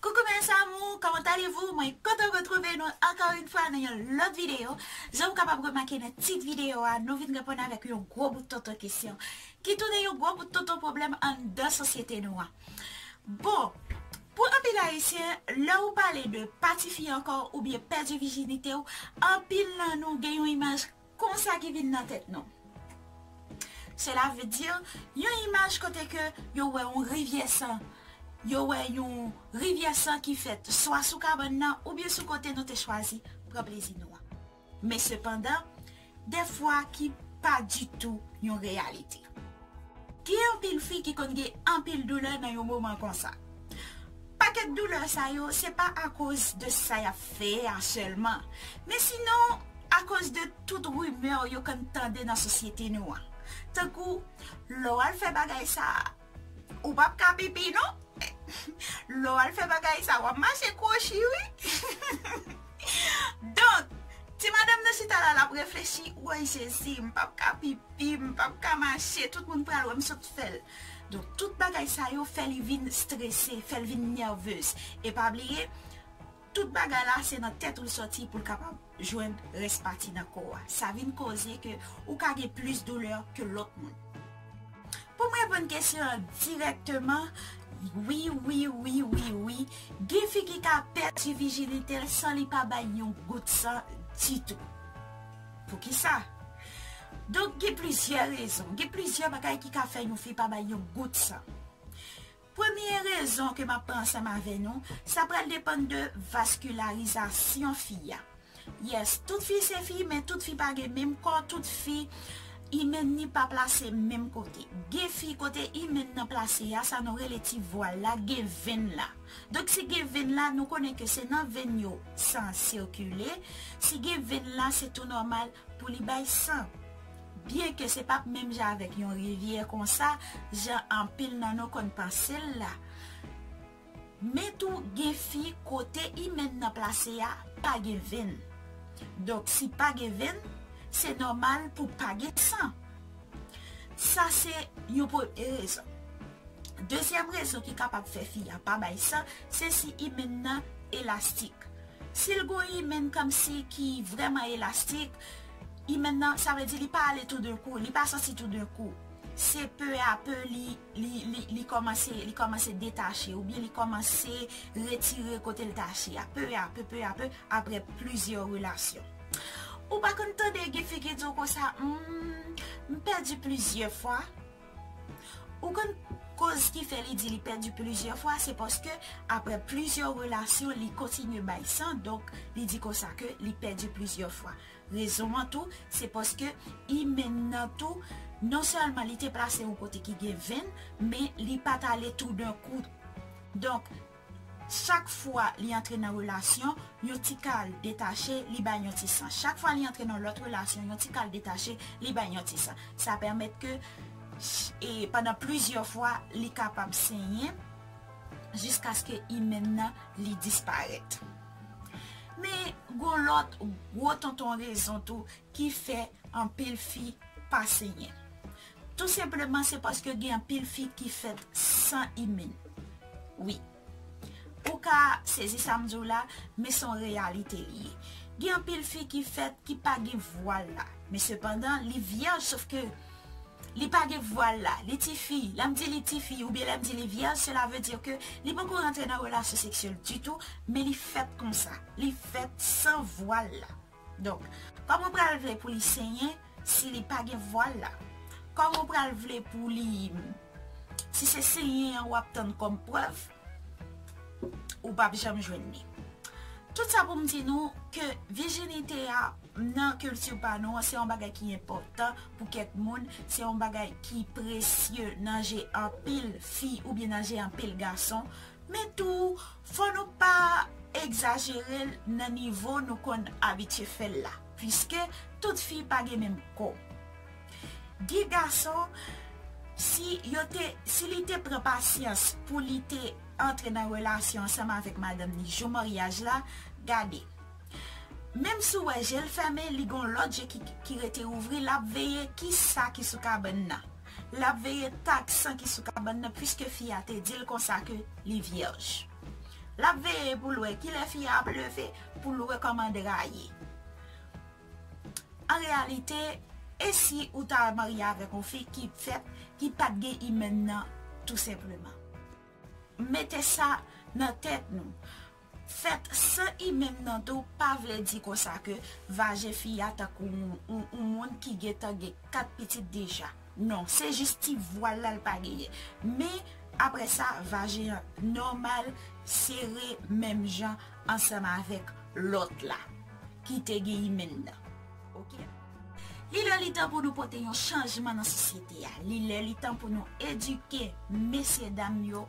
Coucou mes amours comment allez vous mwen kontan retrouve nou anko yn fwa nan yon lot video jan ou kapab remake nan tit video a nou vin reponn avek yon gwo bout tonton kesyon ki tounen yon gwo bout tonton pwoblem anndan sosyete nou an. Bon, pou anpil ayisyen, lè ou pale de pa tifi ankò oubyen pèdi vijinite w, anpil nan nou gen yon imaj konsa ki vin nan tèt nou. Sela ve di, yon imaj kote ke yo wè yon rivyè san, yo wè yon rivyè san ki fèt swa sou kabann nan oubyen sou kote nou te chwazi pran plezi nou an. Men sepandan, defwa ki pa ditou yon reyalite. Gen anpil fi ki konn gen anpil doulè nan yon moman konsa. Pakèt doulè sa yo se pa akoz de sa y ap fè a sèlman, men sinon akoz de tout rimè yo konn tande nan sosyete nou an. Tankou, lè w al fè bagay sa a, Ou pap ka pipi non. Lè w al fè bagay sa wap mache kwochi wi. Donk, ti madanm nan chita la lap reflechi, woy Jezi m pap ka pipi, m pap ka mache, tout moun pral wè m sot fè l. Donk, tout bagay sa yo fè li vin strese, fè l vin nèvez. E pa bliye, Tout bagay la se nan tèt ou l sòti pou l kapab jwenn rès pati nan kò a. Sa vin koze ke ou ka gen plis doulè ke lòt moun. Pou m reponn kesyon an dirèkteman, wi, wi, wi, wi, wi, gen fi ki ka pèdi vijinite l san li pa bay yon gout san ditou. Poukisa? Donk gen plizyè rezon, gen plizyè bagay ki ka fè yon fi pa bay yon gout san. Premye rezon ke map pran ansanm avè nou, sa pral depann de vaskilarizasyon fi a. Yes, tout fi se fi, men tout fi pa gen menm kò, tout fi imèn ni pa plase menm kote. Gen fi kote imèn nan plase a, sa nou rele ti vwal la, gen venn la. Donk si gen venn la, nou konnen ke se nan venn yo san an sikile, si gen venn la se tou nòmal pou li bay san. Byen ke se pap menm jan avèk yon rivyè konsa jan anpil nan nou konn panse l la. Men tou gen fi kote imèn nan plase a pa gen venn. Donk si pa gen venn, se nòmal pou pa gen san. Sa se yon premye rezon. Dezyèm rezon ki kapab fè fi a pa bay san, se si imèn nan elastik. Si l gon imèn kòmsi ki vrèman elastik, Imèn nan, sa vle di li pa ale tou d'un kou, li pa sòti tou d'un kou. Se peu a peu li, li, li, li kòmanse, li kòmanse detache ou byen li kòmanse retire kote l tache a. Peu a peu, peu a peu, aprè plizyè relasyon. Ou pa konn tande gen fi ki di w konsa, Humm, m pèdi plizyè fwa. Ou konn koz ki fè li di li pèdi plizyè fwa se paske aprè plizyè relasyon li kontinye bay san donk li di konsa ke li pèdi plizyè fwa. Rezon an tou se paske imen nan tou non sèlman li te plase yon kote ki gen venn men li pat ale tou dan kou donk Chak fwa li antre nan relasyon, yon ti kal detache, li bay yon ti san. Chak fwa li antre nan lòt relasyon, yon ti kal detache, li bay yon ti san. Sa pèmèt ke pandan plizyè fwa, li kapab senyen jiskaske imèn nan li disparèt. Men, gon lòt gwo tonton rezon tou ki fè anpil fi pa senyen. Tou senpleman se paske gen anpil fi ki fèt san imun wi. Ou ka sezi sam diw la men son reyalite li ye. Gen anpil fi ki fèt ki pa gen vwal la men sepandan li vyèj sof ke li pa gen vwal la li tifi. Lèm di li tifi oubyen lèm di li vyèj sela ve di ke li poko rantre nan relasyon seksyèl ditou men li fèt konsa li fèt san vwal la. Donk, kòman ou pral vle pou li senyen si li pa gen vwal la? Kòman ou pral vle pou li, si se senyen an wap tann kòm prèv, ou pap janm jwenn li. Tout sa pou m di nou ke vijinite a nan kilti pa nou an se yon bagay ki enpòtan pou kèk moun, se yon bagay ki presye nan je anpil fi oubyen nan je anpil gason, men tou Fò nou pa egzajere l nan nivo nou konn abitye fè l la, piske tout fi pa gen menm kò. Gen gason, si yo te, si li te pran pasyans pou li te antre nan relasyon ansanm avèk madanm li jou maryaj la, gade, menm si w wè je l fèmen, li gen yon lòt je ki rete ouvri, l ap veye ki sa ki sou kabann nan. L ap veye tak san ki sou kabann nan piske fi a te di l konsa ke li vyèj. L ap veye pou l wè ki lè fi a ap leve pou l rekòmande rayi. An reyalite, e si ou ta marye avèk yon fi ki fèt, ki pa t gen imèn nan tou senpleman? Mete sa nan tèt nou. Fèt san imen nan tou pa vle di konsa ke vajen fi a tankou yon moun ki gentan gen 4 pitit deja. Non, se jis ti vwal la l pa genyen. Men, apre sa, vajen an nòmal, sere menm jan ansanm avèk lòt la ki te gen imen nan. Ok. Li lè li tan pou nou pote yon chanjman nan sosyete a. Li lè li tan pou nou edike mesye dam yo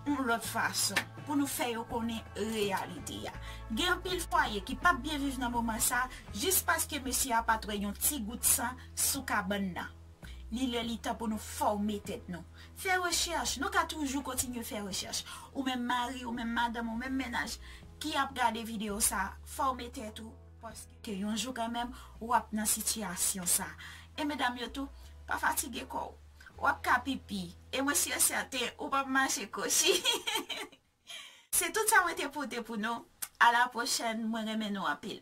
yon lòt fason. Pou nou fè yo konnen reyalite a. Gen anpil fwaye ki pap byen viv nan moman sa a jis paske mesye a pat wè yon ti gout san sou kabann nan. Li lè li tan pou nou fòme tèt nou. Fè rechèch. Nou ka toujou kontinye fè rechèch. Ou menm mari, ou menm madanm, ou menm mennaj ki ap gade videyo sa a, fòme tèt ou. Ke yon jou kanmenm ou ap nan sitiyasyon sa. E medam yo tou, pa fatige kò w. Ou ap ka pipi. E mwen si e sèten ou p ap mache kochi. Se tout sa mwen te pote pou nou. A la pwochèn. Mwen renmen nou anpil.